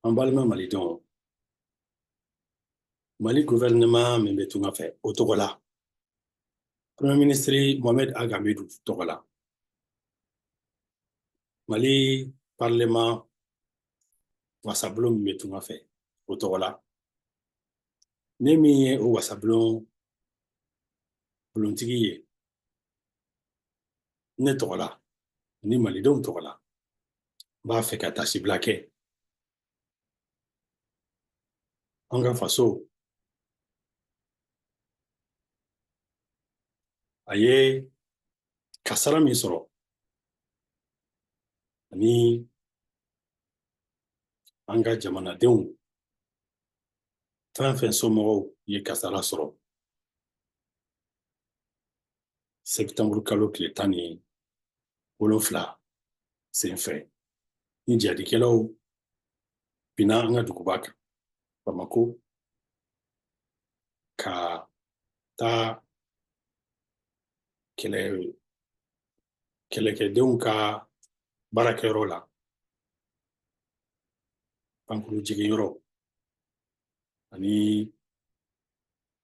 An balima malidenw mali guvɛrinɛma min bɛ tunga fɛ o tɔgɔ la premɛ minisiri mohamɛd ag amedu tɔgɔ la mali parleman wasabulon min bɛ tunga fɛ o tɔgɔ la ne min ye o wasabulon bulontigi ye ne tɔgɔ la ani malidenw tɔgɔ la n b'a fɛ ka taasibila kɛ an ka faso a ye kasara min sɔrɔ ani an ka jamanadenw fɛn fɛn somɔgɔw ye kasara sɔrɔ sɛtanburu kalo tile tan ni wolonfila senfɛ ni jihadikɛlaw binna an ka duguba kan bamako ka taa kɛlɛ kɛlɛkɛdenw ka baarakɛyɔrɔ la pankurun jiginyɔrɔ ani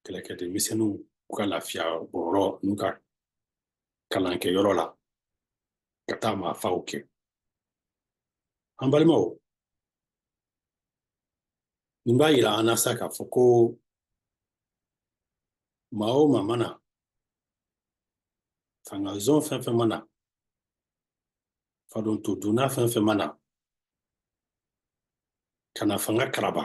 kɛlɛkɛden misɛnninw u ka lafiya bɔyɔrɔ n'u ka kalankɛ yɔrɔ la ka taa maafaw kɛ an balimaw nin b'a yira an na sa k'a fɔ ko maa o maa mana fanga zon fɛn fɛn mana fadon to dunna fɛn fɛn mana ka na fanga karaba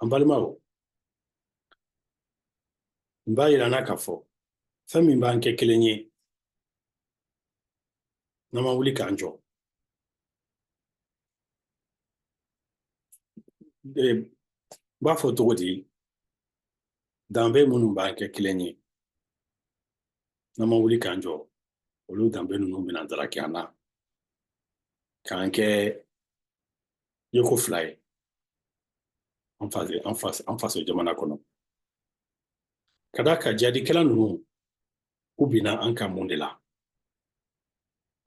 An balimaw nin b'a yira an na k'a fɔ fɛn min b'an kɛ kelen ye n'an ma wuli k'an jɔ n b'a fɔ cogo di danbe minnu b'an kɛ kelen ye n'an ma wuli k'an jɔ olu danbe ninnu bɛna daraki an na k'an kɛ yeko fila ye an faso jamana kɔnɔ ka d'a kan jihadikɛla ninnu u binna an kan mun de la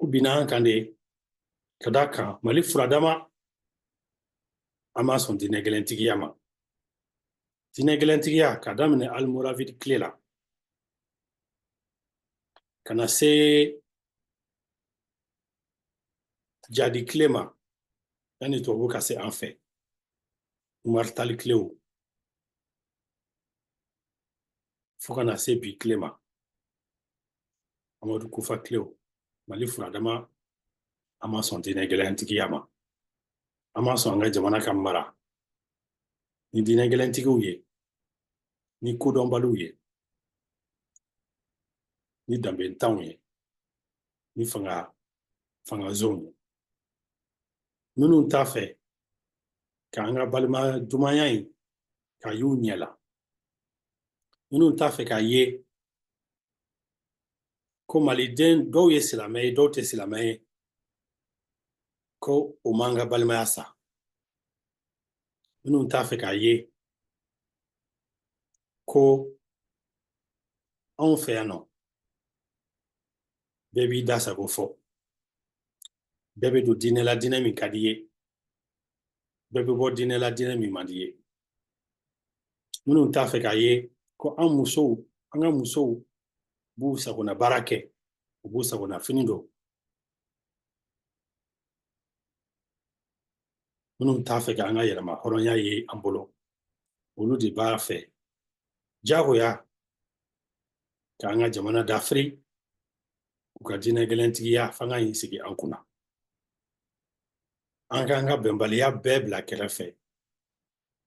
u binna an kan de ka d'a kan mali furadama an ma sɔn diinɛ gɛlɛntigiya ma diinɛ gɛlɛntigiya ka daminɛ almoravid tile la ka na se jadi tile ma yanni tubabu ka se an fɛ umaritali tilew fo ka na se bi tile ma amadu kufa tilew mali furadama an ma sɔn diinɛ gɛlɛntigiya ma an ma sɔn an ka jamana ka mara ni diinɛ gɛlɛntigiw ye ni kodɔnbaliw ye ni danbentanw ye ni fanga fanga zonw ye minnu t'a fɛ k'an ka balima dumanya in ka y'u ɲɛ la minnu t'a fɛ k'a ye ko maliden dɔw ye silamɛ ye dɔw tɛ silamɛ ye ko o m'an ka balimaya sa minnu t'a fɛ k'a ye ko anw fɛ yan nɔ bɛɛ b'i da sago fɔ bɛɛ bɛ don diinɛ la diinɛ min ka di ye bɛɛ bɛ bɔ diinɛ la diinɛ min man di ye minnu t'a fɛ k'a ye ko an musow an ka musow b'u sagona baara kɛ u b'u sagona fini don minnu t'a fɛ k'an ka yɛrɛmahɔrɔnya ye an bolo olu de b'a fɛ jagoya k'an ka jamana dafiri u ka diinɛ gɛlɛntigiya fanga in sigi an kunna an k'an ka bɛnbaliya bɛɛ bila kɛrɛfɛ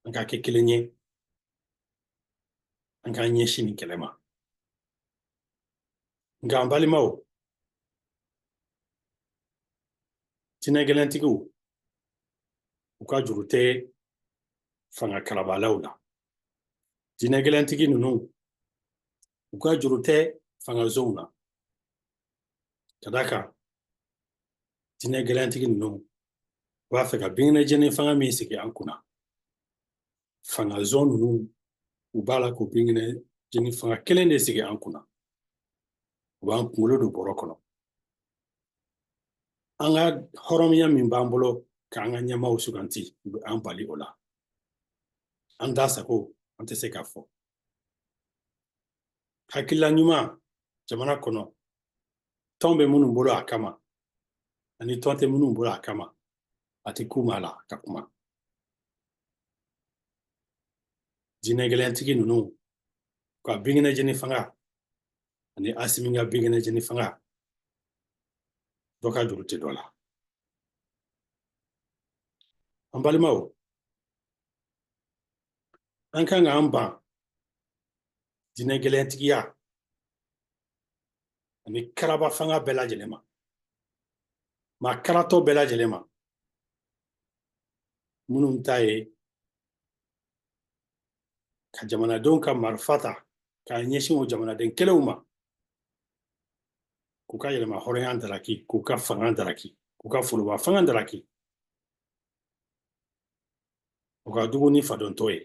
an ka kɛ kelen ye an k'an ɲɛsin nin kɛlɛ ma nka an balimaw diinɛ gɛlɛntigiw u ka juru tɛ fanga karabalaw la diinɛ gɛlɛntigi ninnu u ka juru tɛ fanga zonw na ka d'a kan diinɛ gɛlɛntigi ninnu u b'a fɛ ka binkɛnɛ jeni fanga min sigi an kunna fanga zon ninnu u b'a la k'o binkɛnɛ jeni fanga kelen de sigi an kunna u b'an kunkolo don bɔrɔ kɔnɔ an ka hɔrɔnya min b'an bolo k'an ka ɲɛmaaw suganti u bɛ an bali o la an da sago an tɛ se k'a fɔ hakilila ɲuman jamana kɔnɔ tɔn bɛ minnu bolo a kama ani tɔn tɛ minnu bolo a kama a tɛ k'u ma la ka kuma diinɛ gɛlɛntigi ninnu ka binkɛnɛ jeni fanga ani asimi ka binkɛnɛ jeni fanga dɔ ka juru tɛ dɔ la an balimaw an kan k'an ban diinɛ gɛlɛntigiya ani karaba fanga bɛɛ lajɛlen ma maa karatɔ bɛɛ lajɛlen ma minnu ta ye ka jamanadenw ka marifa ta k'a ɲɛsin o jamanaden kelenw ma k'u ka yɛlɛma hɔrɔnya daraki k'u ka fanga daraki k'u ka foroba fanga daraki u ka jugu ni fadontɔ ye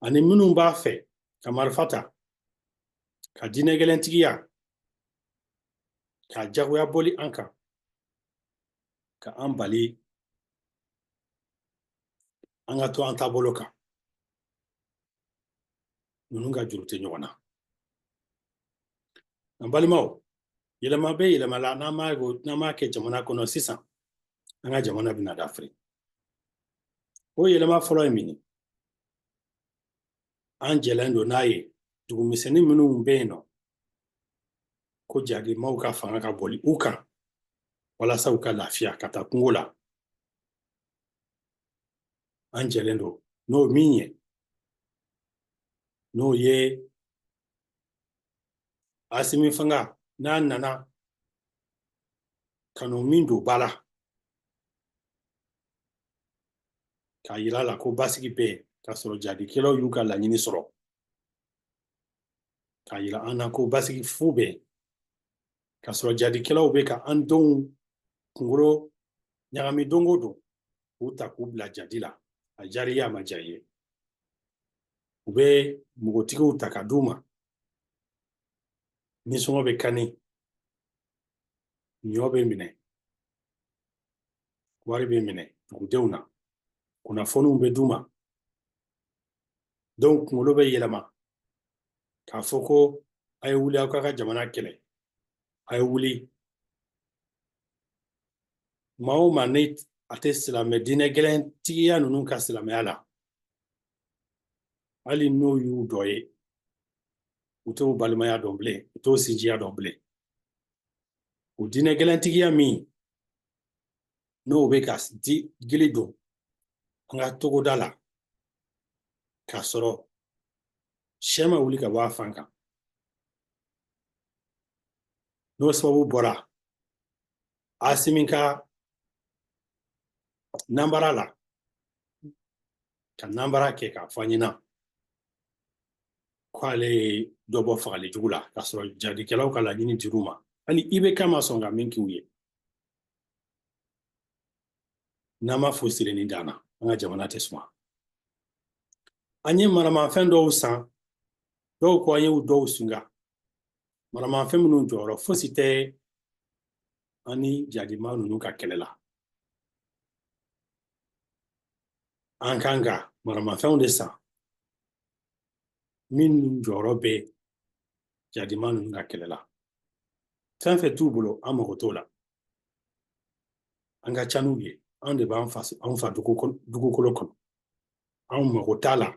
ani minnu b'a fɛ ka marifa ta ka diinɛ gɛlɛntigiya ka jagoya boli an kan ka an bali an ka to an taabolo kan ninnu ka juru tɛ ɲɔgɔn na an balimaw yɛlɛma bɛ yɛlɛma la n'an m'a kɛ jamana kɔnɔ sisan an ka jamana bɛna dafiri o yɛlɛma fɔlɔ ye min ye an jɛlen don n'a ye dugumisɛnnin minnu bɛ yen n'u ko jadimaw ka fanga ka boli u kan walasa u ka lafiya ka taa kungo la an jɛlen don n'o min ye n'o ye asimi fanga n'a nana kanu min don b'a la k'a yira la ko basigi bɛ yen k'a sɔrɔ jadikɛlaw y'u ka laɲini sɔrɔ k'a yira an na ko basigi fu bɛ yen k'a sɔrɔ jadikɛlaw bɛ ka an denw kunkolo ɲagami don o don k'u ta k'u bila jadi la a diyar'i ye a ma diya i ye u bɛ npogotigiw ta ka d'u ma nisɔngɔ bɛ kani ɲɔ bɛ minɛ wari bɛ minɛ dugudenw na kunnafoniw bɛ d'u ma dɔw kunkolo bɛ yɛlɛma k'a fɔ ko a ye wuli aw k'a ka jamana kɛlɛ a ye wuli maa o maa ni a tɛ silamɛ diinɛ gɛlɛntigiya ninnu ka silamɛya la hali n'u y'u dɔ ye u t'o balimaya dɔn bilen u t'o sinjiya dɔn bilen o diinɛ gɛlɛntigiya min n'o bɛ ka digili don an ka togoda la k'a sɔrɔ shɛ ma wuli ka bɔ a fan kan n'o sababu bɔra asimi ka nanbara la ka nanbara kɛ k'a fɔ ɲɛna k'ale ye dɔ bɔ fagali jugu la k'a sɔrɔ jadikɛlaw ka laɲini dir'u ma hali ibeka ma sɔn ka min k'u ye n'an b'a fɔ sirenni dan na an ka jamana tɛ suma an ye maramafɛn dɔw san dɔw ko an ye dɔw singa maramafɛn minnu jɔyɔrɔ fosi tɛ an ni jadima ninnu ka kɛlɛ la an kan ka maramafɛnw de san min jɔyɔrɔ bɛ jadima ninnu ka kɛlɛ la fɛn fɛn t'u bolo an mago t'o la an ka ca n'u ye anw de b'an faso anw fa dugukolo kɔnɔ anw mago t'a la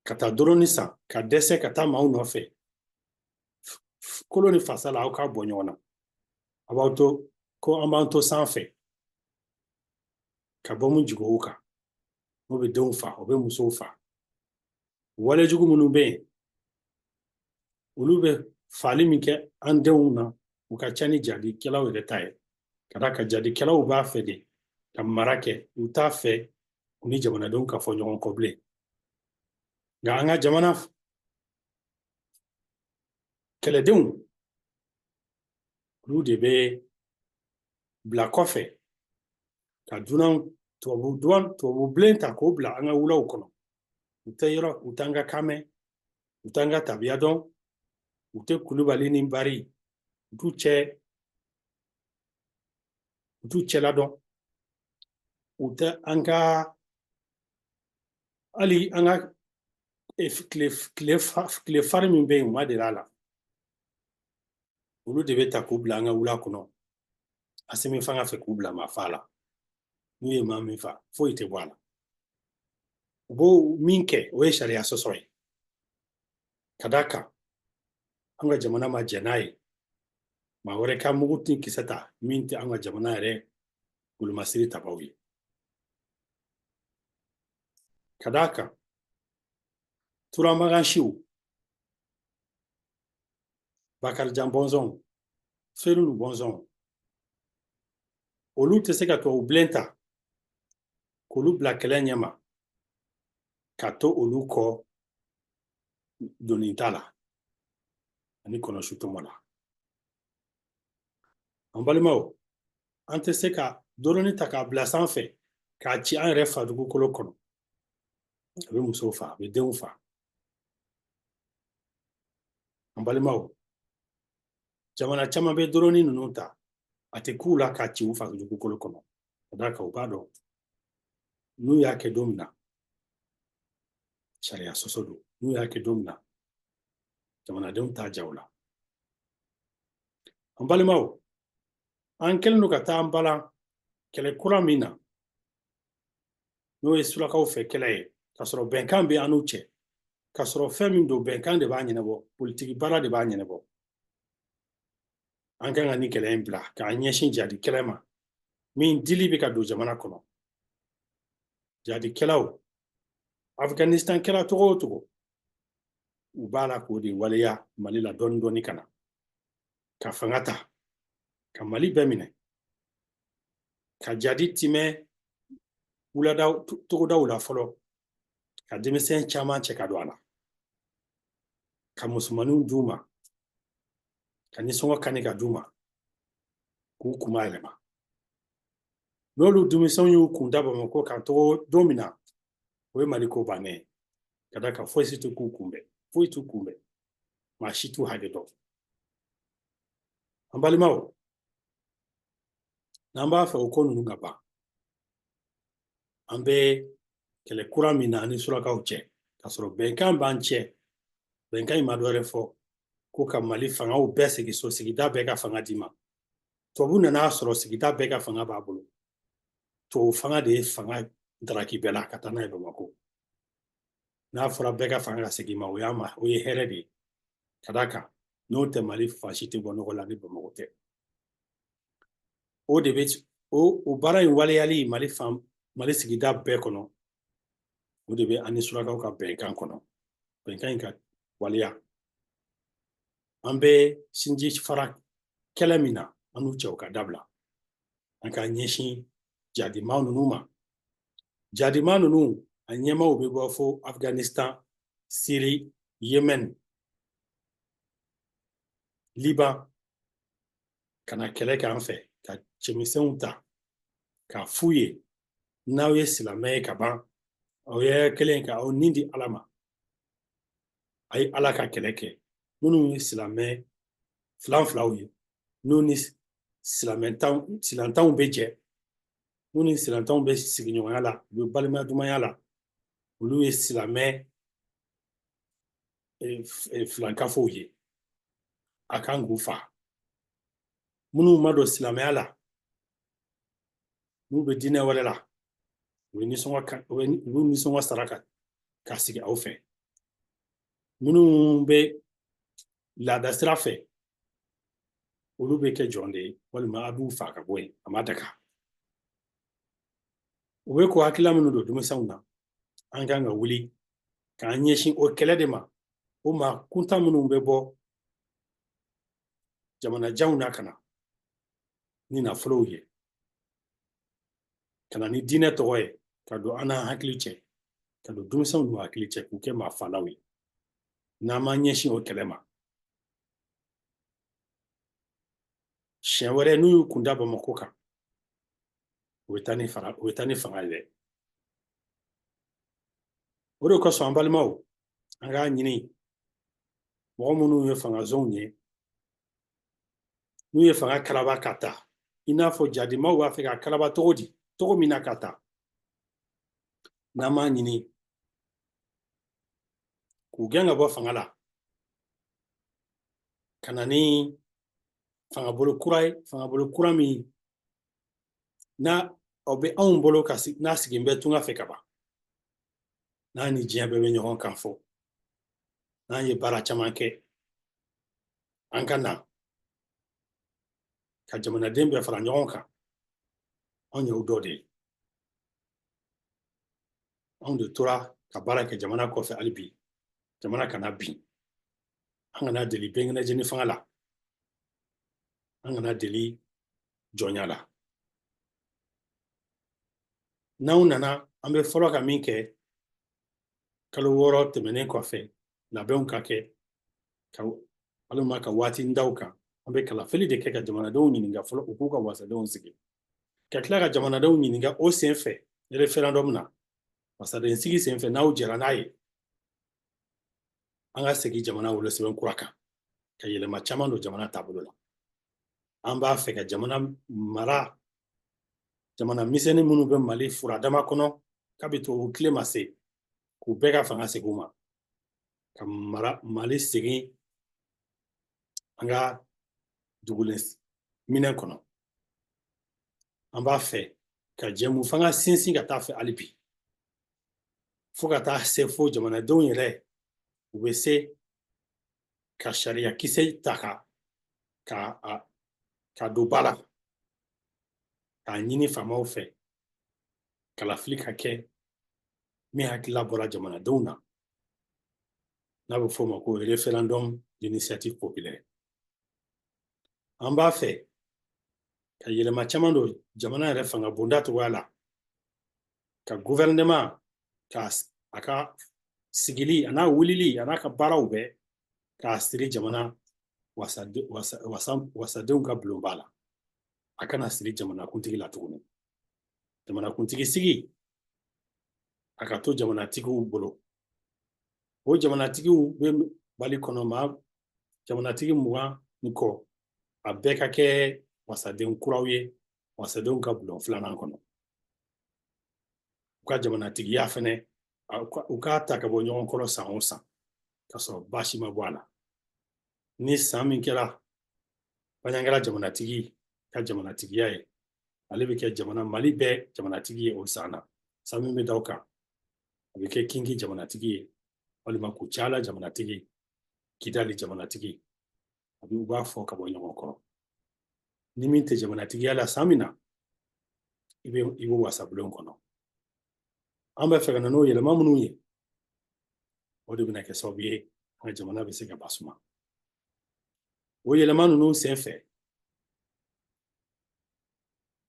ka taa dɔrɔni san ka dɛsɛ ka taa maaw nɔfɛ kolo ni fasa la aw k'a bɔ ɲɔgɔn na a b'aw to ko an b'an to sanfɛ ka bɔmu jigin u kan n'o bɛ denw fa o bɛ musow fa wale jugu minnu bɛ yen olu bɛ faali min kɛ an denw na o ka ca ni jadikɛlaw yɛrɛ ta ye ka d'a kan jadikɛlaw b'a fɛ de ka mara kɛ u t'a fɛ k'u ni jamanadenw ka fɔ ɲɔgɔn kɔ bilen nka an ka jamana kɛlɛdenw olu de bɛ bila kɔfɛ ka dunanw tubabu dunan tubabu bilen ta k'u bila an ka wulaw kɔnɔ u tɛ yɔrɔ u t'an ka kan mɛn u t'an ka tabiya dɔn u tɛ kulubali ni bari u t'u cɛ u t'u cɛla dɔn u tɛ an ka hali an ka tile farin min bɛ yen u ma deli a la olu de bɛ ta k'u bila an ka wula kɔnɔ asimi fanga fɛ k'u bila maa faa la n'u ye maa min fa foyi tɛ bɔ a la u b'o min kɛ o ye sariya sɔsɔ ye ka d'a kan an ka jamana ma jɛn n'a ye maa wɛrɛ ka mugu ni kisɛ ta min tɛ an ka jamana yɛrɛ golomasiri tabaw ye ka d'a kan turamagansiw bakarijan bɔnsɔn fɛn ninnu bɔnsɔn olu tɛ se ka tubabu bilen ta k'olu bila kɛlɛ ɲɛma ka to olu kɔ doni ta la ani kɔnɔsu tɔmɔ la an balimaw an tɛ se ka dɔrɔni ta k'a bila sanfɛ k'a ci an yɛrɛ fa dugukolo kɔnɔ a bɛ musow fa a bɛ denw fa An balimaw jamana caman bɛ dɔrɔnni ninnu ta a tɛ k'u la k'a ci u fa dugukolo kɔnɔ ka d'a kan u b'a dɔn n'u y'a kɛ don min na sariya sɔsɔ don n'u y'a kɛ don min na jamanadenw t'a jaw la an balimaw an kelen don ka taa an balan kɛlɛ kura min na n'o ye surakaw fɛ kɛlɛ ye k'a sɔrɔ bɛnkan bɛ an n'u cɛ k'a sɔrɔ fɛn min don bɛnkan de b'a ɲɛnabɔ politiki baara de b'a ɲɛnabɔ an kan ka ni kɛlɛ in bila k'an ɲɛsin jadi kɛlɛ ma min dili bɛ ka don jamana kɔnɔ jadikɛlaw afganistan kɛra cogo o cogo u b'a la k'o de waleya mali la dɔɔni dɔɔni ka na ka fanga ta ka mali bɛɛ minɛ ka jadi timɛ wuladaw togodaw la fɔlɔ ka denmisɛn caman cɛ ka don a la ka musomaninw d'u ma ka nisɔngɔ kani ka d'u ma k'u kunma yɛlɛma n'olu denmisɛnw y'u kun da bamakɔ kan togo don min na o ye mali ko bannen ye ka d'a kan foyi si tɛ k'u kunbɛn foyi t'u kunbɛn maa si t'u hakɛ dɔn an balimaw n'an b'a fɛ o ko ninnu ka ban an bɛ kɛlɛ kura min na an ni surakaw cɛ k'a sɔrɔ bɛnkan b'an cɛ bɛnkan in ma dɔ wɛrɛ fɔ ko ka mali fangaw bɛɛ segin so sigida bɛɛ ka fanga d'i ma tubabu nan'a sɔrɔ sigida bɛɛ ka fanga b'a bolo tubabu fanga de ye fanga daraki bɛɛ la ka taa n'a ye bamakɔ n'a fɔra bɛɛ ka fanga ka segin i ma o y'a ma o ye hɛrɛ de ye ka d'a kan n'o tɛ mali fan si tɛ bɔ nɔgɔ la ni bamakɔ tɛ o de bɛ o o baara in waleyali mali fan mali sigida bɛɛ kɔnɔ o de bɛ an ni surakaw ka bɛnkan kɔnɔ bɛnkan in ka waleya an bɛ sinji fara kɛlɛ min na an n'u cɛ o ka dabila an ka ɲɛsin jadimaw ninnu ma jadima ninnu a ɲɛmaaw bɛ bɔ fo afghanistan siri yemen liban ka na kɛlɛ k'an fɛ ka cɛmisɛnw ta k'a f'u ye n'aw ye silamɛ ye ka ban aw ye kelen ka aw ni di ala ma a ye ala ka kɛlɛ kɛ minnu ye silamɛ filanfilaw ye n'u ni silamɛtanw silantanw bɛ jɛ minnu ni silantanw bɛ sigiɲɔgɔnya la u bɛ balimaya dumanya la olu ye silamɛ filankafow ye a kan k'u fa minnu ma don silamɛya la n'u bɛ diinɛ wɛrɛ la u bɛ nisɔngɔ ka u bɛ u bɛ nisɔngɔ sara ka ka sigi aw fɛ minnu bɛ laada sira fɛ olu bɛ kɛ jɔn de ye walima a b'u fa ka bɔ yen a ma daga u bɛ k'o hakilila minnu don denmisɛnw na an kan ka wuli k'an ɲɛsin o kɛlɛ de ma o maa kuntan minnu bɛ bɔ jamanajanw na ka na ni nafolow ye ka na ni diinɛ tɔgɔ ye ka don an n'an hakili cɛ ka don denmisɛnw n'u hakili cɛ k'u kɛ maafalaw ye n'an m'an ɲɛsin o kɛlɛ ma siɲɛ wɛrɛ n'u y'u kun da bamakɔ kan u bɛ taa ni fanga u bɛ taa ni fanga ye dɛ o de kosɔn an balimaw an k'a ɲini mɔgɔ minnu ye fangazonw ye n'u ye fanga karaba ka ta i n'a fɔ jadimaw b'a fɛ k'a karaba cogo di cogo min na ka ta n'an m'a ɲini k'u gɛn ka bɔ fanga la ka na ni fangabolo kura ye fangabolo kura min n'o bɛ anw bolo kan n'a sigilen bɛ tunga fɛ ka ban n'a ni diɲɛ bɛɛ bɛ ɲɔgɔn kan fɔ n'an ye baara caman kɛ an ka na ka jamanaden bɛɛ fara ɲɔgɔn kan anw y'o dɔ de ye anw de tora ka baara kɛ jamana kɔfɛ hali bi jamana kana bin an kana deli bɛnkɛnɛjeni fanga la an kana deli jɔnya la n'anw nana an bɛ fɔlɔ ka min kɛ kalo wɔɔrɔ tɛmɛnen kɔfɛ labɛnw ka kɛ ka walima ka waati daw kan an bɛ kalafili de kɛ ka jamanadenw ɲininka fɔlɔ u k'u ka wasadenw sigi ka tila ka jamanadenw ɲininka o sen fɛ referendum na wasaden sigi sen fɛ n'aw jɛra n'a ye an ka segin jamana wolosɛbɛn kura kan ka yɛlɛma caman don jamana taabolo la an b'a fɛ ka jamana mara jamana misɛnnin minnu bɛ mali furadama kɔnɔ kabi tubabu tile ma se k'u bɛɛ ka fanga segin u ma ka mara mali segin an ka dugulen minɛn kɔnɔ an b'a fɛ ka jɛmu fanga sinsin ka taa fɛ hali bi fo ka taa se fo jamanadenw yɛrɛ u bɛ se ka sariya kisɛ ta ka ka k'a don ba la k'a ɲini faamaw fɛ kalafili ka kɛ min hakilila bɔra jamanadenw na n'a bɛ f'o ma ko referendum d'initiative populaire an b'a fɛ ka yɛlɛma caman don jamana yɛrɛ fanga bonda cogoya la ka guvɛrɛnɛma ka a ka sigili a n'a wulili a n'a ka baaraw bɛɛ k'a siri jamana wasadenw ka bulonba la a kana siri jamanakuntigi la tuguni jamanakuntigi sigi a ka to jamanatigiw bolo o jamanatigiw bɛ mali kɔnɔ ma jamanatigi mugan ni kɔ a bɛɛ ka kɛ wasaden kuraw ye wasadenw ka bulon filanan kɔnɔ u ka jamanatigiya fɛnɛ u k'a ta ka bɔ ɲɔgɔn kɔrɔ san o san ka sɔrɔ baasi ma bɔ a la ni san min kɛra baɲagara jamanatigi ka jamanatigiya ye ale bɛ kɛ jamana mali bɛɛ jamanatigi ye o san na san min bɛ da o kan a bɛ kɛ kingi jamanatigi ye walima kucala jamanatigi kidali jamanatigi a bɛ u b'a fɔ ka bɔ ɲɔgɔn kɔrɔ ni min tɛ jamanatigiya la san min na i bɛ i bɛ wasabulon kɔnɔ an bɛ fɛ ka na n'o yɛlɛma minnu ye o de bɛna kɛ sababu ye an ka jamana bɛ se ka masuma o yɛlɛma ninnu senfɛ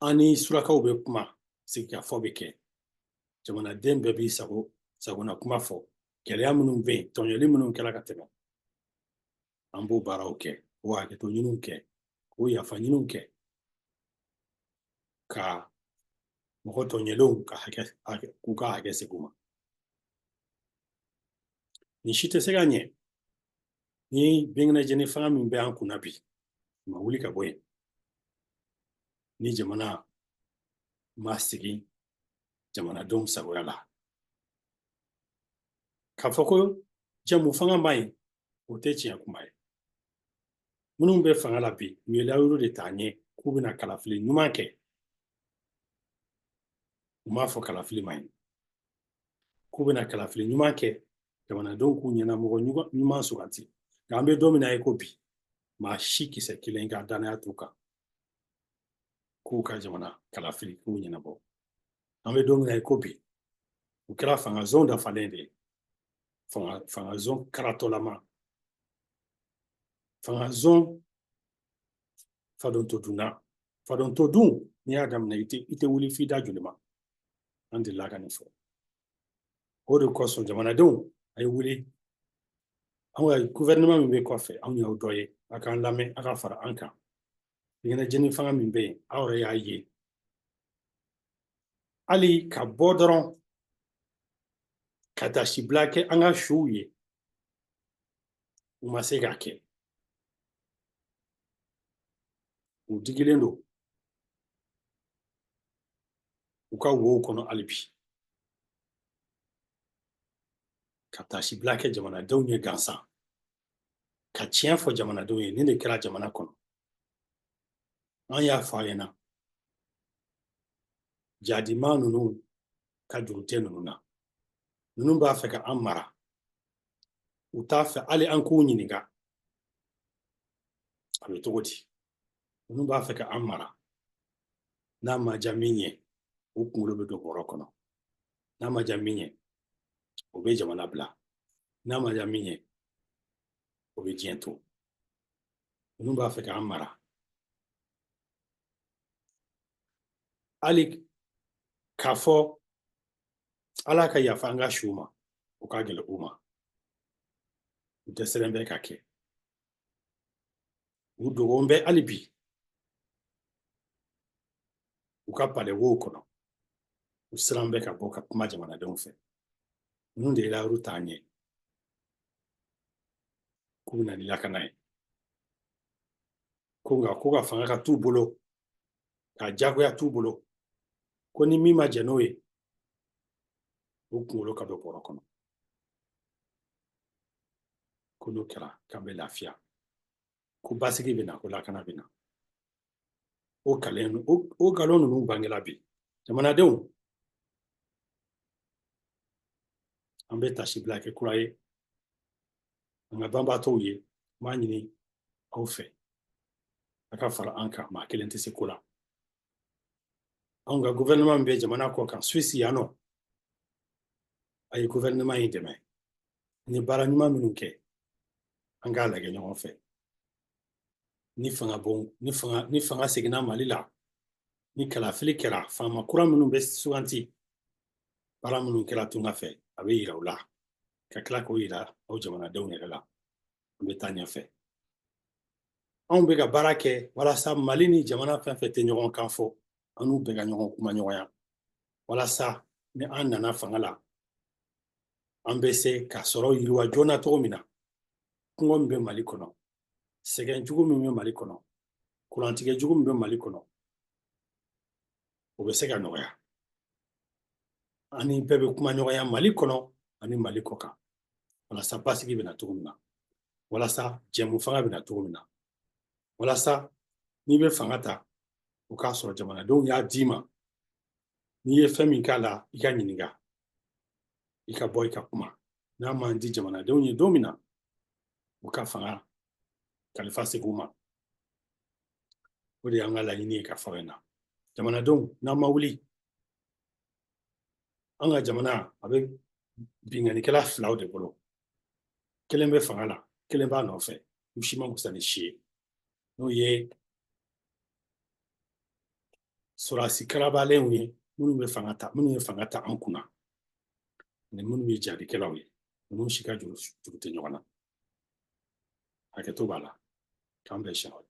an ni surakaw bɛ kuma sigikafɔ bɛ kɛ jamanaden bɛɛ b'i sago sagona kuma fɔ gɛlɛya minnu bɛ yen tɔɲɔli minnu kɛra ka tɛmɛ an b'o baaraw kɛ k'o hakɛto ɲiniw kɛ k'o yafa ɲiniw kɛ ka mɔgɔ tɔɲɔlenw ka hakɛ k'u ka hakɛ segin u ma nin si tɛ se ka ɲɛ ni binkɛnɛjeni fanga min bɛ an kunna bi ma wuli ka bɔ yen ni jamana ma segin jamanadenw sagoya la K'a fɔ ko jɛmufanga man ɲi o tɛ tiɲɛ kuma ye minnu bɛ fanga la bi u ye layiru de ta ɲɛ k'u bɛna kalafili ɲuman kɛ u m'a fɔ kalafili man ɲi k'u bɛna kalafili ɲuman kɛ jamanadenw k'u ɲɛnamɔgɔ ɲuman suganti nka an bɛ don min na i ko bi maa si kisɛ kelen ka dannaya t'u kan k'u ka jamana kalafili k'u ɲɛnabɔ an bɛ don min na i ko bi u kɛra fanga zon dafalen de ye fanga fanga zon karatɔlama fanga zon fadon to dunna fadon to dun n'i y'a daminɛ i tɛ i tɛ wuli f'i da jolima an delila ka nin fɔ o de kosɔn jamanadenw a ye wuli anw ka gouvernement min bɛ kɔfɛ a y'u dɔ ye a k'an lamɛn a ka fara an kan ɲɛnajɛni fanga min bɛ yen aw yɛrɛ y'a ye hali ka bɔ dɔrɔn ka taasibila kɛ an ka suw ye u ma se k'a kɛ u digilen don u ka wow kɔnɔ hali bi ka taasibila kɛ jamanadenw ye gansan ka tiɲɛ fɔ jamanadenw ye nin de kɛra jamana kɔnɔ an y'a fɔ a ɲɛna jadima ninnu ka juru tɛ ninnu na ninnu b'a fɛ ka an mara u t'a fɛ hali an k'u ɲininka a bɛ cogo di ninnu b'a fɛ ka an mara n'a ma diya min ye o kunkolo bɛ don bɔrɔ kɔnɔ n'a ma diya min ye o bɛ jamana bila n'a ma diya min ye o bɛ diɲɛ to ninnu b'a fɛ k'an mara hali k'a fɔ ala ka yafa an ka suw ma o ka gɛlɛn u ma u tɛ sɛbɛn bɛ ka kɛ u dogolen bɛ hali bi u ka palewow kɔnɔ u siran bɛ ka bɔ ka kuma jamanadenw fɛ ninnu de layiru t'an ye k'u bɛ na ni lakana ye ko nka ko ka fanga ka t'u bolo ka jagoya t'u bolo ko ni min ma jɛn n'o ye o kunkolo ka don bɔrɔ kɔnɔ ko n'o kɛra k'an bɛ lafiya ko basigi bɛ na ko lakana bɛ na o kalen o nkalon ninnu bangela bi jamanadenw an bɛ taasibila kɛ kura ye an ka banbaatɔw ye n b'a ɲini aw fɛ a ka fara an kan maa kelen tɛ se ko la anw ka gouvernement min bɛ jamana kɔ kan suisse yan nɔ a ye gouvernement in dɛmɛ ni baara ɲuman minnu kɛ an k'a lajɛ ɲɔgɔn fɛ ni fanga bon ni fanga ni fanga seginna mali la ni kalafili kɛra faama kura minnu bɛ suganti baara minnu kɛra tunga fɛ a bɛ yira u la ka tila k'o yira aw jamanadenw yɛrɛ la an bɛ taa ɲɛfɛ anw bɛ ka baara kɛ walasa mali ni jamana fɛn fɛn tɛ ɲɔgɔn kan fɔ an n'u bɛɛ ka ɲɔgɔn kumaɲɔgɔnya walasa ni an nana fanga la an bɛ se ka sɔrɔ yiriwa joona cogo min na kungɔ min bɛ mali kɔnɔ sɛgɛn jugu min bɛ mali kɔnɔ kurantigɛ jugu min bɛ mali kɔnɔ o bɛ se ka nɔgɔya ani bɛɛ bɛ kumaɲɔgɔnya mali kɔnɔ ani mali kɔ kan walasa basigi bɛ na cogo min na walasa jɛmufanga bɛ na cogo min na walasa n'i bɛ fanga ta o k'a sɔrɔ jamanadenw y'a d'i ma n'i ye fɛn min k'a la i ka ɲininka i ka bɔ i ka kuma n'a man di jamanadenw ye don min na u ka fanga kalifa segin u ma o de y'an ka laɲini ye ka fɔ in na jamanadenw n'an ma wuli an ka jamana a bɛ binkannikɛla filaw de bolo kelen bɛ fanga la kelen b'a nɔfɛ u si man fisa ni si ye n'o ye sɔrɔdasi karabalenw ye minnu bɛ fanga ta minnu ye fanga ta an kunna ani minnu ye jahadikɛlaw ye ninnu si ka juru tɛ ɲɔgɔn na hakɛto b'a la k'an bɛn siɲɛ wɛrɛ